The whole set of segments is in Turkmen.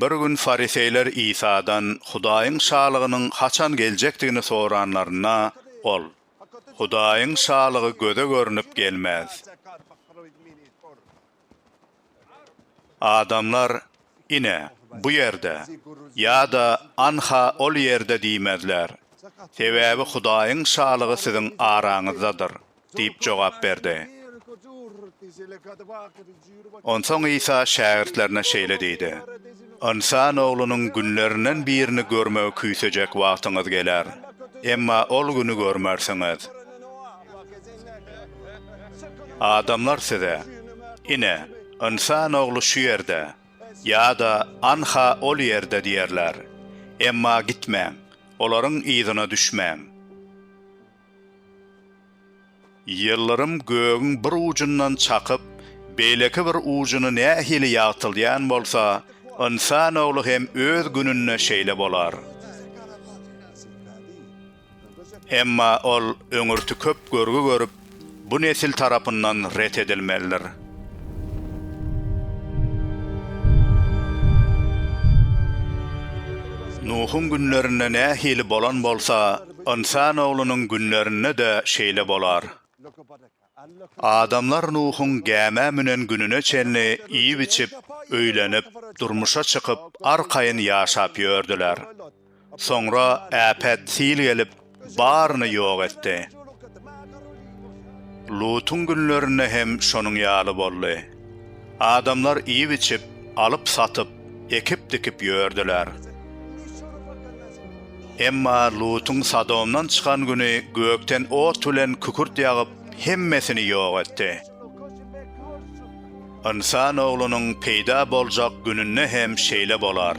Bir gün fariseýler Isadan Hudaýyň Şalygynyň haçan geljekdigini soranlarynda, ol, Hudaýyň Şalygy göze görnüp gelmez. Adamlar ine, bu ýerde ýa-da anha ol ýerde diýmezler, sebäbi Hudaýyň Şalygy siziň araňyzdadyr diýip jogap berdi. Onsoň Isa şägirtlerine şeýle diýdi. Ynsan oglunyň günlerinden birini görmegi küýsejek wagtyňyz geler. Emma ol güni görmersiňiz. Adamlar size, Ine, Ynsan ogly şu ýerde! ýa-da Anha ol ýerde! diýerler. Emma gitmäň, olaryň yzyna düşmäň. Ýyldyrym gögüň bir ujundan çakyp, beýleki bir ujuny nähili ýagtyldýan bolsa, ynsan ogly hem öz gününde şeýle bolar. Emma ol öňürti köp görgi görüp, bu nesil tarapyndan ret edilmelidir. Nuhuň günlerinde nähili bolan bolsa, Ynsan oglunyň günlerinde-de şeýle bolar. Adamlar Nuhuň gämä münen gününe çenli iýip-içip, öýlenip, durmuşa çykyp, arkaýyn ýaşap ýördüler. Soňra äpet sil gelip, baryny ýok etdi. Lutuň günlerinde hem şonuň ýaly boldy. Adamlar iýip-içip, alyp-satyp, ekip-dikip ýördüler. Emma Lutuň Sodomdan çykan güni gökden ot bilen kükürt ýagyp, hemmesini ýok etdi. Ynsan Oglunyň peýda boljak gününde hem şeýle bolar.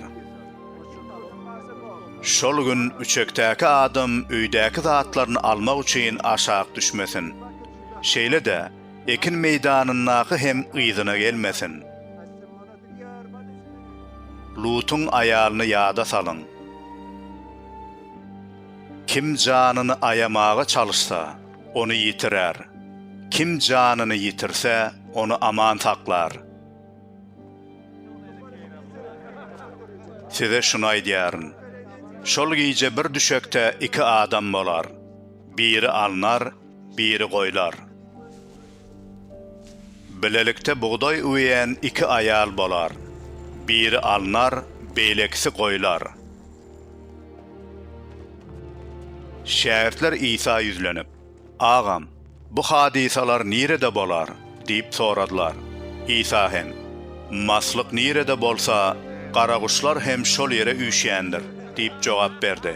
Şol gün üçekdäki adam öýdäki zatlaryny almak üçin aşak düşmesin. Şeýle-de, Ekin meýdanyndaky hem yzyna gelmesin. Lutuň aýalyny ýada salyň. Kim janyny aýamaga çalyşsa, ony ýitirer, kim janyny ýitirse, ony aman saklar. Size şuny aýdýaryn, şol gije bir düşekde iki adam bolar, biri alnar, Biri goýlar. Bilelikde bugdaý üweýän iki aýal bolar. Biri alnar, beýlekisi goýlar. Şägirtler Isa ýüzlenip, Agam, bu hadysalar nirede bolar? diýip soradylar. Isa hem, Maslyk nirede bolsa, garaguşlar hem şol ýere üýşýändir diýip jogap berdi.